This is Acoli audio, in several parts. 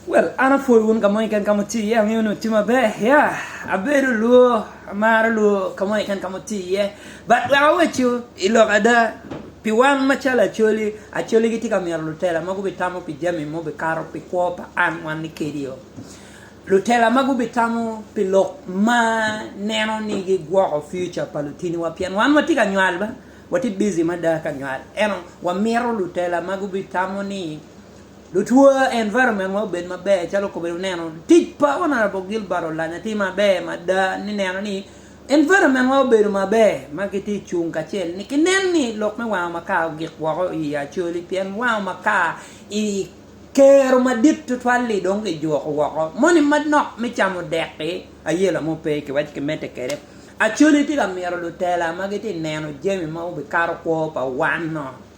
Well, an apwoyo wun ka mo keken ka wuti iye, angeyo ni wuti maber. Ya, abedo lwo, amaro lwo ka mo keken ka wuti iye. But wek aweccu i lok ada, pi wan macalo Acholi, Acholi gitye ka myero lutela ma gubitamo pi jami ma obikato pi kwo pa an wan ni kedi-o. Lutela ma gubitamo pi lok ma neno ni gigwoko future pa lutiniwa pien wan watye ka nywal ba, watye busy mada ka nywal. Ento wamito lutela ma gubitamo ni, Lutwa environment wa obed maber calo okobbe ni oneno tic pa honourable Gilbert olanya tye maber mada ni neno ni environment wa obedo maber ma kitye cung kacel ni kinen ni lok me wango makar ogik woko i yi Acholi pien wango makar i kero madit tutwal li dong kijuko woko moni manok me camo dek ki aye lamo pe kiwaco kimedde kede Acholi tye ka mito lutela ma gitye neno jami ma obikato kwo pa wan-no.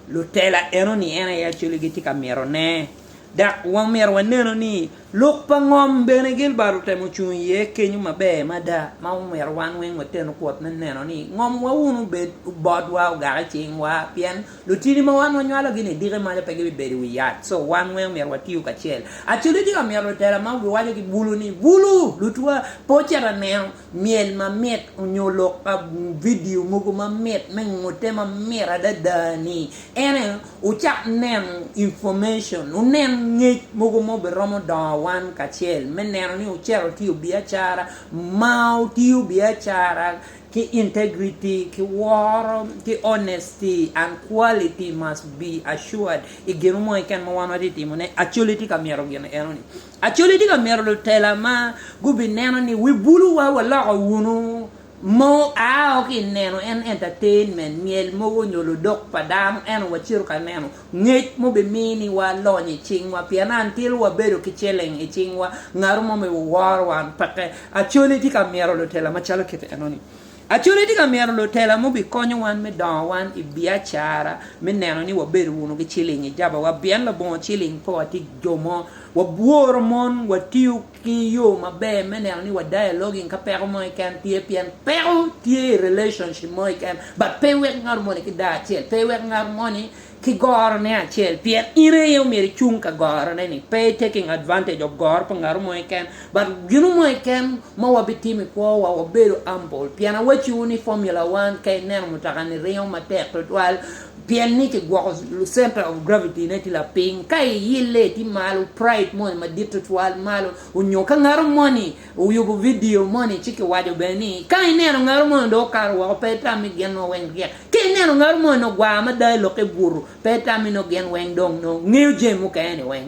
lutela enoni en aye actually gitye ka mito ne dok wamito waneno ni lok pa ngom bene Gilbert otemo cung iye kenyo maber mada ma omyero wan weng wateno kwot me neno ni ngom wa wun obed obot wa ogak icing wa pien lutini ma wan wanywalo gi ni diki maco pe gibi bedo iwi yat so wan weng omyero watiyo kacel actually tye ka mito lutela ma giwaco ki bulu ni bulu lutwa po cita neno myel mamit onyo lok pa vidio mogo mamit me ngute mamit adada ni en aye wucak neno information wunen ngec mogo ma obiromo dongo wan kacel me neno ni wucito tiyo biacara ma wutiyo biacara ki integrity ki woro ki honesty and quality must be assured I gin mo keken ma wan watye ka timone actually tye ka mito gin enoni. Acholi tye ka mito lutela ma gubineno ni wibuluwa waloko wunu mo ao ki ineno en entertainment myel mogo nyo ludok pa dano eno wacito ka neno ngec mubimini wa lony icingwa pien until wabedo ki celling icingwa ngato mo me woworowa peke Acholi tye ka mito lutela macalo kit enoni Acholi tye ka mito lutela ma obikonyo wan me dongo wan i biacara me neno ni wabedo wunu ki ciling i jabawa pien labongo ciling pe watye jo mo. Wabworo mon, watiyo ki yo maber me neno ni wa dialoguing ka peko mo keken tye pien peko tye i relationship mo keken but pe iwek ngat moni ki daa acel, pe iwek ngat moni ki gorone acel pien in aye omyero icung ka gorone ni pe i taking advantage of goro pa ngatu mo keken but ginu mo keken ma wa bi timo i kwo wa wa bedo humble pien awacci wu ni formula one ka i neno mutoka ni ringo matek tutwal pien ni ki gwoko center of gravity ne tye lapiny ka i yille tye malo pride moni madit tutwal malo onyo ka ngatu moni Wuyubo vidio moni ci kiwaco bene ni, Ka ineno ngaro moni dong okato woko, pe itammi gin nongo weng ryek. Ka ineno ngaro moni nongo gwar mada i lokke butu, pe itammi nongo gin weng dong nongo ngeyo jami mukene-ni weng.